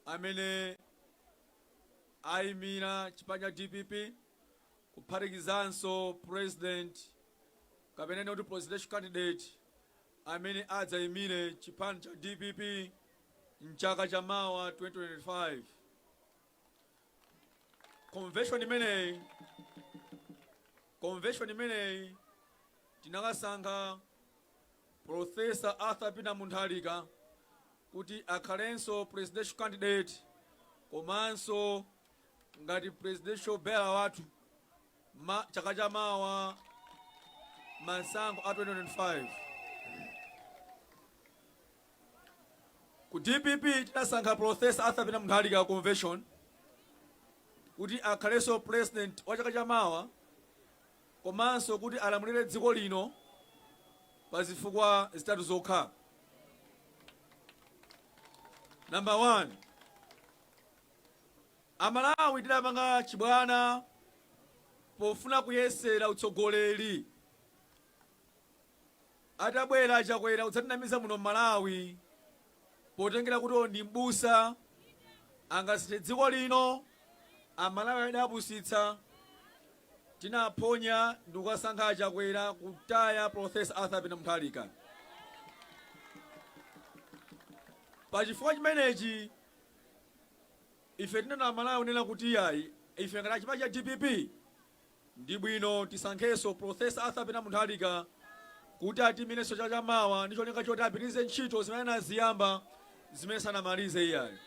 amene aimire chipani cha dpp kuphatikizanso president kapena kunena kuti presidential candidate amene adzaimire chipani cha dpp mchaka cha mawa 2025 convention imeneyi tinakasankha Prof. Arthur Peter Mutharika kuti akhalenso presidential candidate komanso ngati presidential bearer wathu mchaka cha mawa masankho a 2025. Ku dpp tinasankha Prof. Arthur Peter Mutharika convention kuti akhalenso president wa chaka cha mawa komanso kuti alamulire dziko lino pa zifukwa zitatu zokha. Number one, Amalawi tidapanga chibwana pofuna kuyesera utsogoleri. Atabwera Chakwera kudzatinamiza muno m'Malawi potengera kuti ndi m'busa angasinthe dziko lino amalawi adawapusitsa tinaphonya ndikukasankha achakwera kutaya professor arthur peter mutharika pa chifukwa chimenechi ife tinena amalawi kunena kuti iyayi ife ngati achipani cha dpp Ndi bwino tisankhenso Professor Arthur Peter Mutharika kuti atiyimilenso chaka cha mawa ndi cholinga choti apitilize ntchito zimene anaziyamba zimene sanamalize iyayi.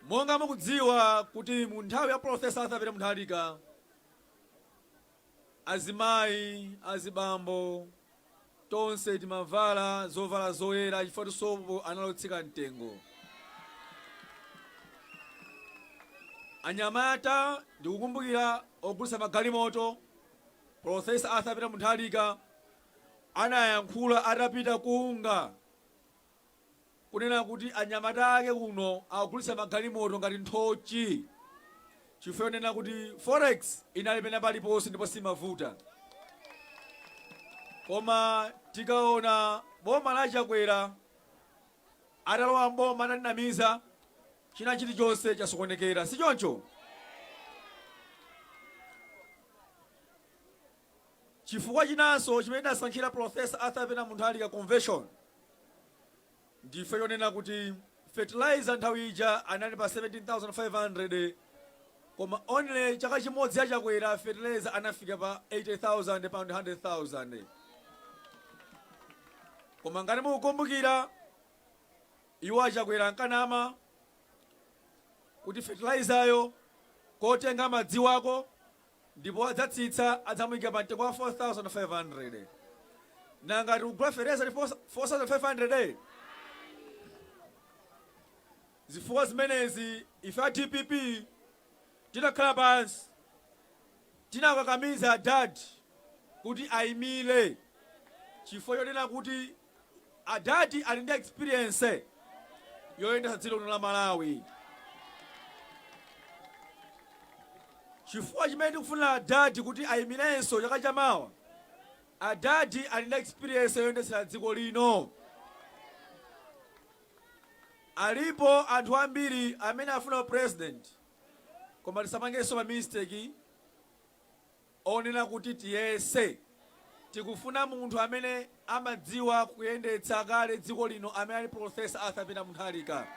Monga mukudziwa kuti mu nthawi ya Professor Arthur Peter Mutharika, Azimayi, azibambo, tonse timavala zovala zoyera chifukwa sopo anali otsika mtengo. Anyamata, ndikukumbukira ogulitsa magalimoto, Prof. Arthur Peter Mutharika anayankhula atapita ku UNGA. kunena kuti anyamata ake kuno akugulitsa magalimoto ngati nthochi chifukwa chonena kuti forex inali pena paliponse ndipo siimavuta koma tikaona boma la chakwera atalowa mboma atatinamiza china chilichonse chasokonekera si choncho Chifukwa chinanso chimene tinasankhira Prof. Arthur Peter Muntharika Convention ndi chonena kuti fertilizer nthawi ija anali pa 17,500 koma only chaka chimodzi ya Chakwera fertilizer anafika pa 80,000 pa 100,000. Koma ngati mukukumbukira iwo achakwera ankanama kuti fertilizer yo ngotenga madzi wako ndipo adzatsitsa adzamuika pa mtengo wa 4500 nanga tikugula fertilizer ndi 4500 zifukwa zimenezi ife a dpp tinakhala pansi tinakakamiza adad kuti aimile chifukwa chonena kuti Adadi ali ndi experience yoyendetsa dziko lino la Malawi. Chifukwa chimene tikufuna Adadi kuti ayimirenso chaka cha mawa, Adadi ali ndi experience yoyendetsera dziko lino. Alipo anthu ambiri amene afuna u president koma tisapangenso ma mistake. onena kuti tiyese. Tikufuna munthu amene amadziwa kuyendetsa kale dziko lino amene ali Prof. Arthur Peter Muntharika.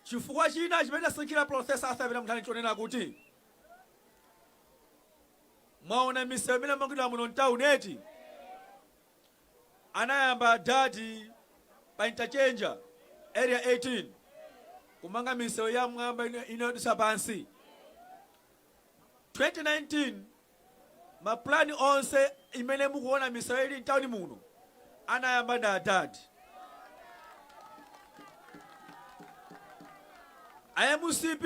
Chifukwa china chimene tasankhira Prof. Arthur Peter Muntharika nchonena kuti mwaona misewu imene yamangidwa muno mtown eti? Anayamba adadi pa interchange, Area 18, kumanga misewu ya m'mwamba ina yodutsa pansi. 2019, ma plan onse imene mukuona misewu ili m'tauni muno anayamba ndi adad. A mcp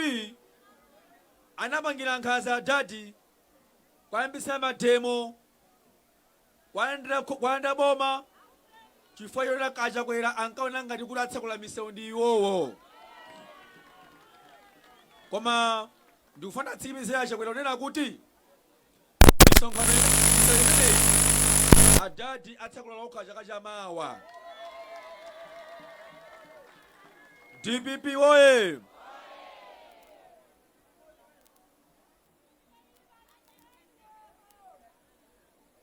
anapangira nkhanza adadi, kuyambitsa mademo. Kuwalanda boma chifukwa chonena kuti a Chakwera ankaona ngati kuti atsekula misewu ndi iwowo. Koma ndikufuna ndiwatsimikizire a Chakwera kunena kuti misonkhano misewu imeneyi adadi atsekula okha chaka cha mawa. DPP woye!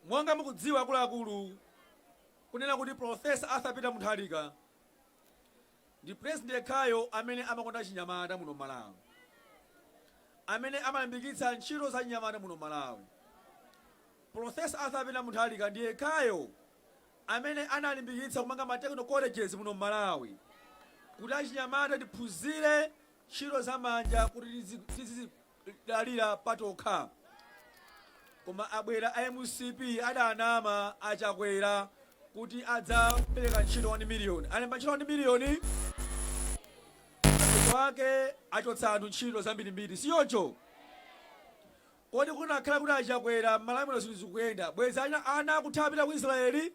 Monga mukudziwa akuluakulu, kunena kuti Prof. Arthur Peter Muntharika ndi president yekhayo amene amakonda achinyamata muno Malawi, amene amalimbikitsa ntchito za achinyamata muno Malawi. Prof. Arthur Peter Muntharika ndi yekhayo amene analimbikitsa kumanga ma technical colleges muno Malawi kuti achinyamata tiphunzire ntchito za manja kuti tizizidalira patokha koma abwera a mcp adanama achakwera kuti adzapereka ntchito 1 miliyoni alemba ntchito 1 miliyoni mapeto ake achotsa anthu ntchito zambirimbiri sichoncho kodi kunakhala kuti achakwera mmalawi muno zinthu zikuyenda bwezi ana ana akuthawira ku israeli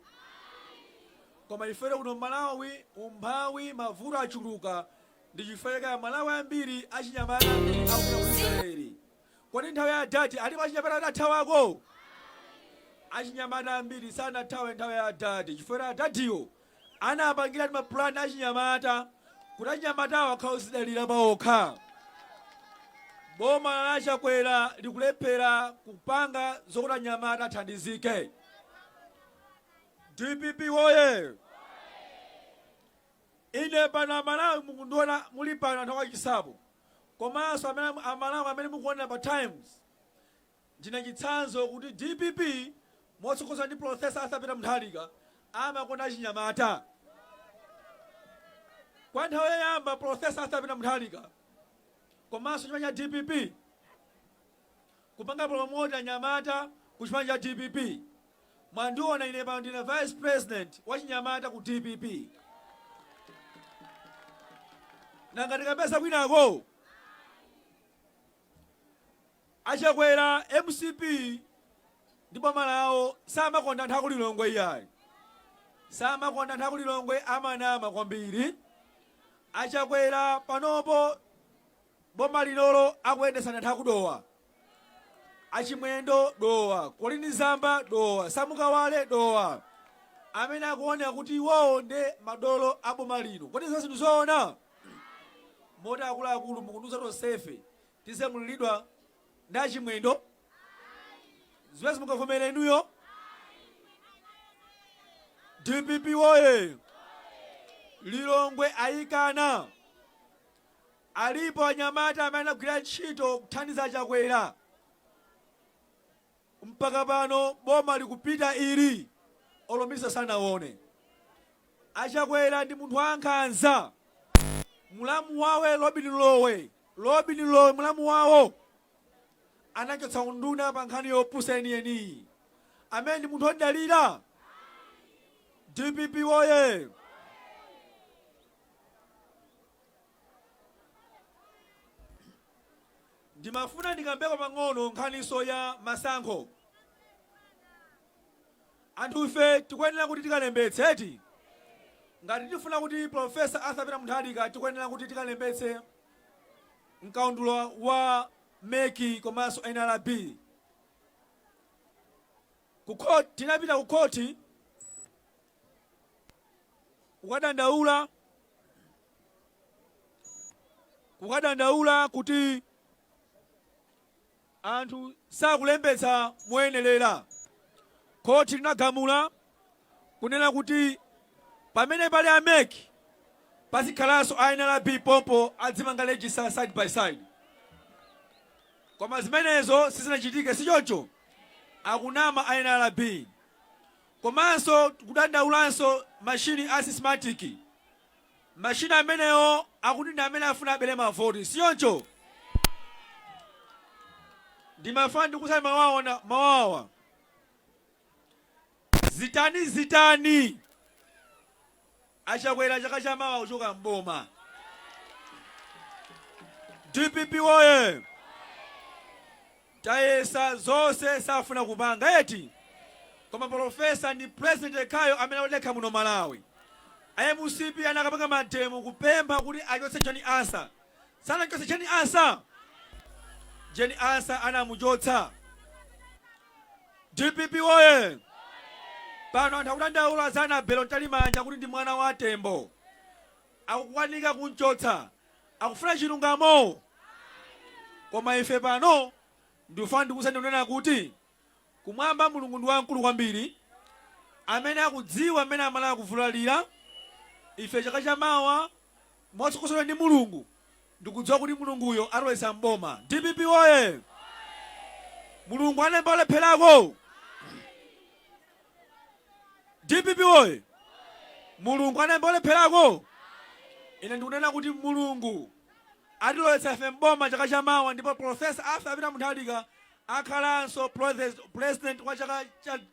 koma ifere kuno mmalawi umphawi mavuto achuluka Ndi chifukwa chake amalawi ambiri achinyamata akupita ku Israel. Kodi nthawi ya adad alipo achinyamata adathawako? Achinyamata ambiri sanathawe nthawi ya adad chifukwa choti adadiyo anapangiratu ma plan achinyamata kuti achinyamatawo akhale ozidalira paokha. Boma la Chakwera likulephera kupanga zokuti anyamata athandizike. Dpp woyee! Ine pano amalawi mukundiona muli pano anthu a chinsapo komanso amalawi amene mukuonera pa times ndine chitsanzo kuti dpp motsogozedwa ndi professor arthur peter mutharika amakonda achinyamata kwa nthawi yoyamba professor arthur peter mutharika komanso chipani cha dpp kupanga promote anyamata ku chipani cha dpp. Mwandiona ine pano ndine vice president wachinyamata ku dpp. Nanga tikapeza kwinako? A Chakwera, mcp ndi boma lawo samakonda anthu aku Lilongwe iyayi. Samakonda anthu aku Lilongwe amanama kwambiri. A Chakwera panopo Boma linolo akuyendetsa ndi anthu aku Dowa a Chimwendo Dowa, Colleen Zamba Dowa, Sam Kawale Dowa amene akuoneka kuti iwowo nde madolo a boma lino. Kodi zonsezi ndi zoona? Moti akuluakulu mukundiuza tonsefe tizilamulidwa ndi a Chimwendo? Zimenezi mungavomere inuyo? Dpp woye! Lilongwe ayikana. Alipo anyamata amene anagwira ntchito kuthandiza Chakwera mpaka pano boma likupita ili olo minister sanawone. A Chakwera ndi munthu wankhanza. Mulamu wawo Lobin Lowe, Lobin Lowe mulamu wawo anachotsa unduna pa nkhani yopusa yeniyeni. Amene ndi munthu omudalira? Dpp woye! Ndimafuna ndikambeko pang'ono nkhaninso ya masankho. Anthu ife tikuyenera kuti tikalembetse eti? Ngati tifuna kuti Prof. Arthur Peter Mutharika tikuyenera kuti tikalembetse mkaundula wa mec komanso nrb. Ku court, tinapita ku court kukadandaula, kukadandaula kuti anthu sakulembetsa moyenerera. Court linagamula kunena kuti pamene pali a mec pazikhalanso a nrb pompo adzimanga register side by side. Koma zimenezo sizinachitike, sichoncho? Akunama a nrb. Komanso kudandaulanso machine a Smartmatic. Machine amenewo akuti ndi amene afuna abere mavoti, sichoncho? Ndimafuna ndikuuzeni mawu awa. Zitani zitani a Chakwera chaka cha mawa akuchoka m'boma. Dpp woye! Tayesa zonse safuna kupanga eti koma polofesa ndi president yekhayo amene odekha muno Malawi. A mcp anakapanga mademo kupempha kuti achotse Jane Ansah. Sanamchotse Jane Ansah? Jane Ansah anamuchotsa. Dpp woye! Pano anthu akudandaula za Annabel Mtalimanja kuti ndi mwana wa Tembo. Akukanika kumchotsa. Akufuna chilungamo? Koma ife pano ndikufuna ndikuuzeni kunena kuti kumwamba Mulungu ndi wamkulu kwambiri amene akudziwa mmene Amalawi akuvulalira. Ife chaka chamawa, motsogoleredwa ndi Mulungu, Ndikudziwa kuti Mulunguyo atilowetsa m'boma. Dpp woye! Mulungu alemba olepherako? Dpp woye! Mulungu alemba olepherako? Ine ndikunena kuti Mulungu atilowetsa ife m'boma chaka cha mawa ndipo Prof. Arthur Peter Mutharika akhalanso President wa chaka cha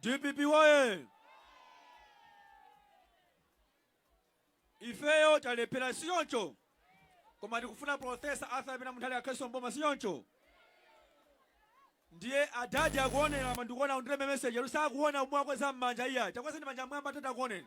Dpp woyee! Ifeyo talephera sichoncho? Koma tikufuna Prof. Arthur Peter Mutharika akhalenso m'boma sichoncho? Ndiye adadi akuonera koma ndikuona andilembera message akuti sakuona kuti mwakweza manja iyayi. Takwezani manja m'mwamba adadi akuoneni.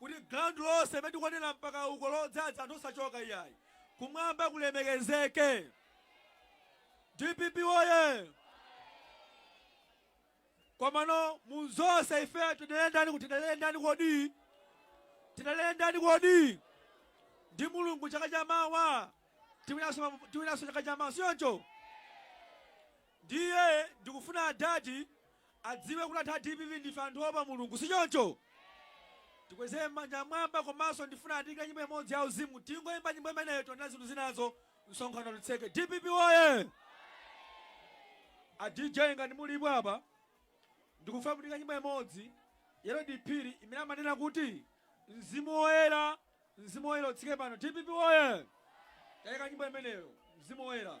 Kuti ground lonse limene tikuonera mpaka uko lodzadza anthu osachoka iyayi. Kumwamba kulemekezeke. Dpp woye! Komano mu zonse ifeyo tidalire ndani kuti tidalire ndani kodi? Tidalire ndani kodi? Ndi Mulungu chaka cha mawa. Tiwina tiwinanso chaka cha mawa. Sichoncho? Ndiye ndikufuna adadi adziwe kuti anthu a dpp ndife anthu oopa Mulungu sichoncho? Tikweze manja mmwamba komanso ndifuna atiyike nyimbo imodzi ya uzimu tingoimba nyimbo imeneyo tinena zinthu zinazo msonkhano titseke. Dpp woye! A DJ ngati mulipo apa ndikufuna mutiyike nyimbo imodzi ya Lady Phiri imene amanena kuti mzimu woyera mzimu woyera utsike pano. Dpp woye! Tayikani nyimbo imeneyo mzimu woyera.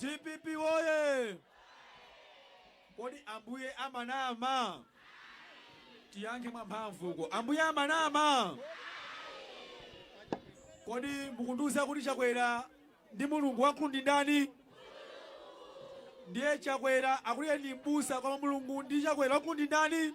Dpp woye! Kodi Ambuye amanama? Tiyankhe mwamphamvu uko. Ambuye amanama? Kodi mukundiuza kuti Chakwera ndi Mulungu wankulu ndi ndani? Ndiye Chakwera akuti ndi m'busa koma Mulungu ndi Chakwera wankulu ndi ndani?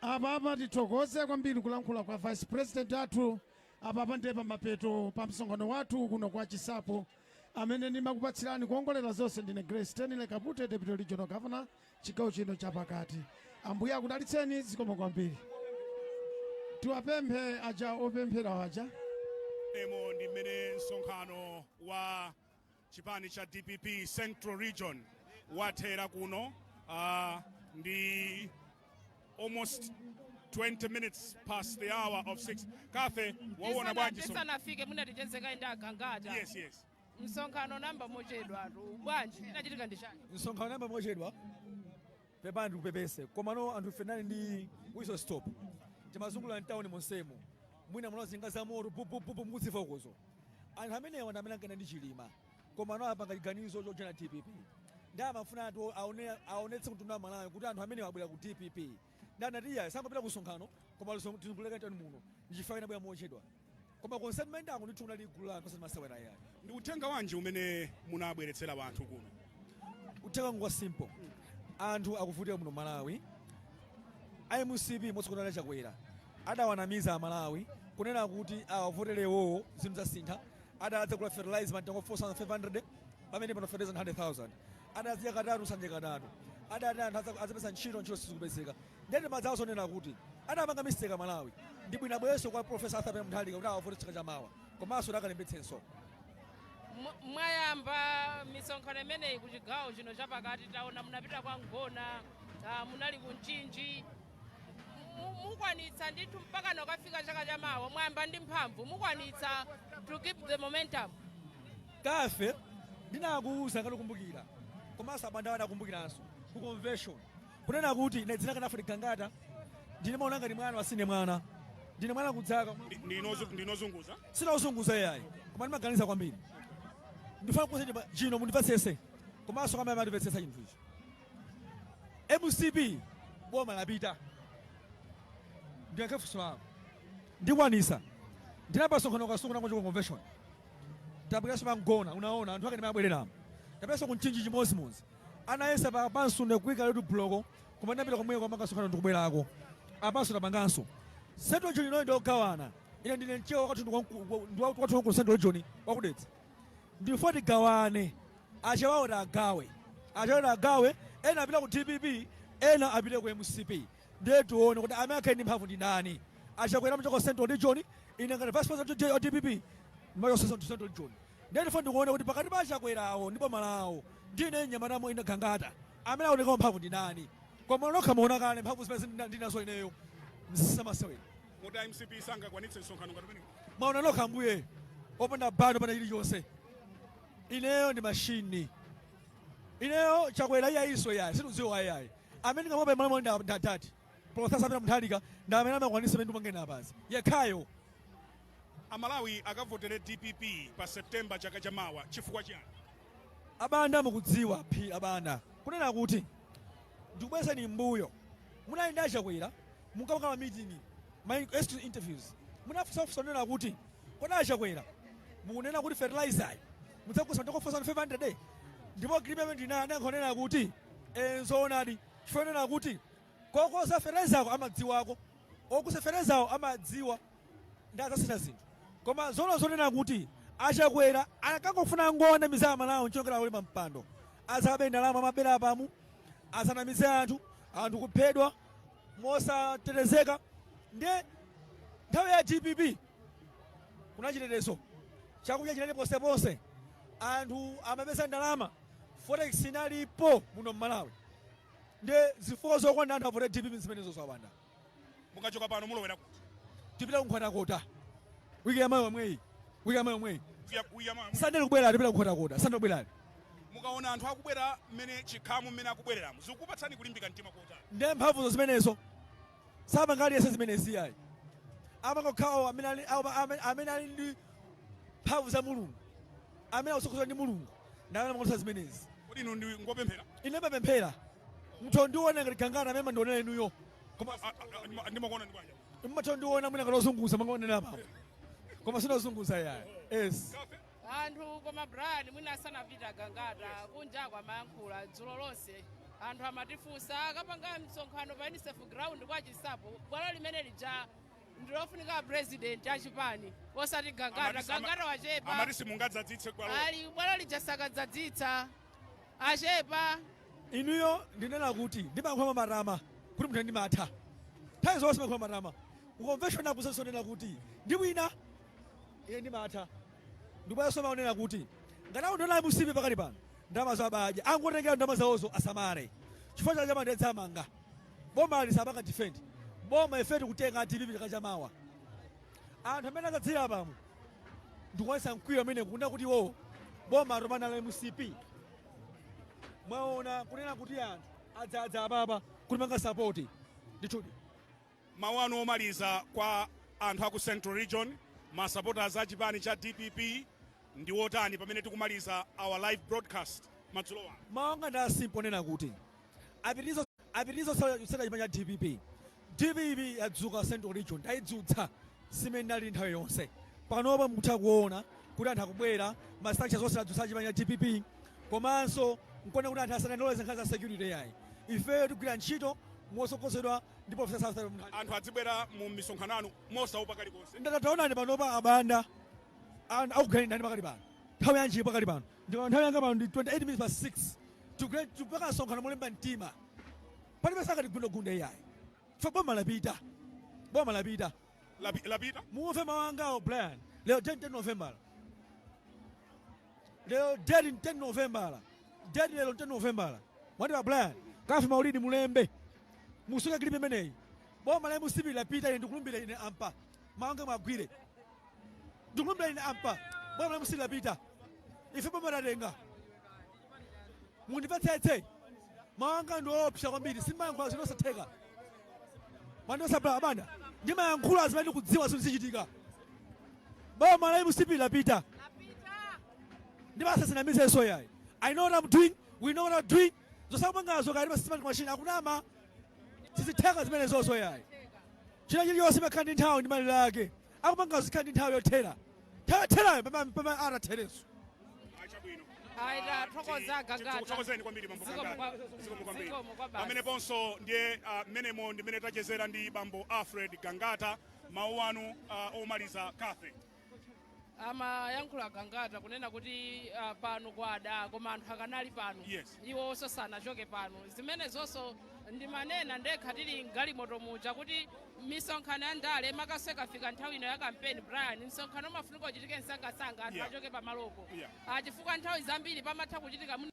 Apapa tithokoze kwambiri kulankhula kwa vice president athu. Apapa ndiye pamapeto pa msonkhano wathu kuno kwa Chinsapo. Amene ndimakupatsirani kuongolera zonse ndine Grace Stanley Kapute, Deputy Regional Governor chigawo chino chapakati. Ambuye akudalitseni zikomo kwambiri. Tiwapemphe aja opemphera aja. Umo ndi mmene msonkhano wa Chipani cha dpp central region wathera kuno uh, ndi almost 20 minutes past the hour of 6 Kathy waona bwanji so tisanafike munati tichezeko ndi a Gangata yes yes msonkhano unayamba mochedwatu bwanji chinachitika ndi chani msonkhano unayamba mochedwa Pepani ndikupepese komano anthu ife tinali ndi whistle stop timazungulira mtauni monsemu mwina munaona njinga za moto pupupupu mukudziva ukozo anthu amenewa ndi amene ankayenda ndi chilima koma ano apanga chiganizo chojoina dpp nde amafuna ati aone- aonetse mtundu wa amalawi kuti anthu amenewa abwera ku dpp nde anati iyayi tisangopita ku msonkhano koma tizungulireko mtauni muno ndichifukwa tinabwera mochedwa koma konse timayendako ndithu kunali gulu la anthu osati masewera ayi ndi uthenga wanji umene munabweretsera anthu kuno uthenga ngwa simple anthu akuvutika muno malawi a mcp motsogozedwa ndi a chakwera adawanamiza amalawi kunena kuti awavotere iwowo zinthu zidzasintha azidzagula fertilizer mtengo 4500 pamene pano fertilizer 100000 azidzadya katatu sakudya katatu adati anthu aza- adzapeza ntchito ntchito sizikupezeka ndiye timadzawauza zonena kuti anapanga mistake amalawi ndi bwino abwerenso kwa profesa arthur peter mutharika kuti awavotere chaka chamawa komanso kuti akalembetsenso Mwa- mwayamba misonkhano imeneyi ku chigawo chino chapakati taona munapita kwa mgona ah, munali ku mchinji Mu- mukwanitsa ndithu mpaka kukafika chaka chamawa mwayamba ndi mphamvu mukwanitsa to keep the momentum kaye ndinakuuza ngati ukumbukira komanso abanda akukumbukiranso ku convention kunena kuti ine dzina la gangata mumandiona ngati mwana koma sindine mwana ndine mwana kuzaka Ndi- ndine ozu- ndine ozunguza sindine ozunguza yayi koma ndimaganiza kwambiri ndifuna kukuuzani chinthu chino mundimvetsese komanso kumamvetsetsa chinthu ichi mcp boma lapita ndiyankhe funso lako ndikwanitsa ndinapanga msonkhano kasungu ndangochoka convention tapitanso pamgona unaona anthu ake mmene amabwerera tapitanso kumchinji chimodzimodzi Anayesa pamenepo ndi kuika road block koma ndapita komweko kwa msonkhano ndikubwerako apanso tapanganso central region inoyi ndiyogawana ine ndine mchewa wakathu ndiwathu wankulu central region wakudedza ndifuna tigawane achewawo tagawe achewawo tagawe ena apite ku dpp ena apite ku mcp ndiye tione kuti amene akhale ndi mphamvu ndi ndani achakwera achoke central region ine ngati vice president wa dpp achoke central region Ndiye ndifuna ndikuone kuti pakati pa achakwera awo ndi boma lawo ndi ine mnyamata ine gangata amene aoneka wa mphamvu ndindani koma nokha mwaona kale mphamvu zimene ndinazo ineyo msamasewera muda mcp sangakwanitse msonkhano ngati umenewu mwaona nokha ambuye opanda band opanda chilichonse ineyo ndi mashini ineyo chakwera iyayinso yayi sindidziwa ayayi amene ndingamuope malamulo ndi adadi profesa peter mutharika ndi amene amakwanitsa zimene ndikunena apazi yekhayo Amalawi akavotere dpp pa September chaka cha mawa chifukwa chiyani? A Banda mukudziwa phee a Banda kunena kuti ndikubwezeni m'mbuyo munali ndi a Chakwera munkapanga ma meeting ma exclusive interviews munafunsa funso lonena kuti kodi a Chakwera mukunena kuti fertilizer yi mudzagulitsa ndi 4500 ndipo agreement inayi anayankha kunena kuti eh nzoonadi chifukwa kunena kuti kogula fertilizer ko amadziwako ogulitsa fertilizer awo amadziwa nde adzasintha zinthu koma zoona zonena kuti a chakwera ankangofuna kungowanamiza amalawi nkukwera pampando azabe ndalama amabera apamo azanamize anthu anthu kuphedwa mosatetezeka nde nthawi ya dpp kunali chitetezo chakudya chinali ponseponse anthu amapeza ndalama forex inalipo muno mmalawi nde zifukwa zokwana anthu avote dpp zimenezo abanda mukachoka pano mulowera kuti tipita kunkhotakota wiki yamawa yomweyi wiki yamawa yomweyi Kuya- kuya mwa- sande likubwera tipita kunkhotakota sande likubwera mukaona anthu akubwera mmene chikhamu mmene akubwereramo zikukupatsani kulimbika mtima kotani ndiye mphamvuzo zimenezo sapanga aliyense zimenezi ayi amapanga okhawo amene ali- awo- amene- amene ali ndi mphamvu za mulungu amene akutsogozedwa ndi mulungu ndi amene amakwanitsa zimenezi kodi inu ndinu opemphera ine ndimapemphera mutha kundiona ngati gangata mmene mumandionera inuyo koma a- a- a- ndima- ndimakuona ndi banja mumatha kundiona mwina ngati ozunguza mangaonera apapo koma sine ozunguza yayi yes cathy anthu koma brian mwina asanapita gangata kunjako amayankhula dzulo lonse anthu amatifunsa akapanga msonkhano pa unicef ground kwa chinsapo bwalo limene lija ndilofunika apresident achipani osati gangata Amati sama- gangata wachepa amati simungadzadzitse bwalo ali bwalo lija sakadzadzitsa achepa inuyo ndinena kuti ndimakhoma matama kuti munthu ndimatha nthawi zonse ndimakhoma matama kukonveshoni akusenso ndinena kuti ndi wina ine ndimatha ndibwerezenso mawu onena kuti ngati akundiona a mcp pakali pano ndalamazo abadya angotengera ndalama zawozo asamale chifukwa chaka chamawa ndidzawamanga Bomali sapanga defend boma ife tikutenga dpp chaka chamawa anthu mmene adzadzira apamu ndikuonesa mkwiyo amene kunena kuti iwowo boma atopa nalo la mcp mwaona kunena kuti anthu adzadza apapa kutipanga sapoti ndithudi Mawu anu omaliza kwa anthu aku central region, ma supporters a chipani cha dpp ndi otani pamene tikumaliza our live broadcast madzulo ano? Mawu anga ndi a simple onena kuti apitilize apitilize kusapota chipani cha dpp. Dpp yadzuka central region tayidzutsa si mmene inalili nthawi yonse. Panopa mukutha kuona kuti anthu akubwera, ma structures onse tadzutsa a chipani cha dpp komanso nkuona kuti anthu asadandawule za nkhani za security yayi. Ifeyo tigwira ntchito motsogozedwa ndi professor arthur mutharika anthu adzibwera mu misonkhano yanu mosaopa kalikonse ndata taonani panopa a banda ana akuganidani pakali pano nthawi yanji pakali pano ndipo nthawi yanga pano ndi 28 minutes past 6 Tigre- tipanga msonkhano molimba mtima palibe sakati gundagunda iyayi ife boma lapita boma lapita Lapi- lapita mumve mawu angawo brian lero 10 november lero date ndi 10 novembala date lero ndi 10 novembala mwatiwa brian cathy maulidi mulembe musunge kilipi imeneyi boma la mcp lapita ine ndikulumbira ine apa mawu anga muwagwire ndikulumbira ine apa boma la mcp lapita ife boma tatenga mundimvetsetse mawu anga ndiopsa kwambiri sindimayankhula zinthu zosatheka Man dosa bra Banda. Ndimayankhula zimene ndikudziwa zinthu zichitika. Boma la mcp lapita. Ndipo asazinamizenso yayi. I know what I'm doing. We know what we're doing. Zosakupangazo kaya ma Smartmatic machine akunama. Sizitheka zimenezozo yayi. China chilichonse chimakhala ndi nthawi ndi malire ake. akupangazo zikhala ndi nthawi yothera nthawi yotherayo pamene pamene atatherenso chabwino Ayi, tathokoza Gangata. tikutokozeni kwambiri bambo Zikomo Gangata. kwa- Zikomo kwambiri zikomo kwa basi. pameneponso ndiye ah, mmenemo ndi mmene tachezera ndi bambo alfred gangata mawu anu ah, omaliza kathe amayankhula a gangata kunena kuti ah, pano kwada koma anthu akanali pano Yes. iwo onse asanachoke pano zimenezonso ndimanena ndekha tili mgalimoto muja kuti misonkhano ya ndale makanso ikafika nthawi ino ya kampeni brian msonkhano umafunika uchitike msangasanga anthu Yeah. achoke pamalopo Yeah. Ah, chifukwa nthawi zambiri pamatha kuchitika mwina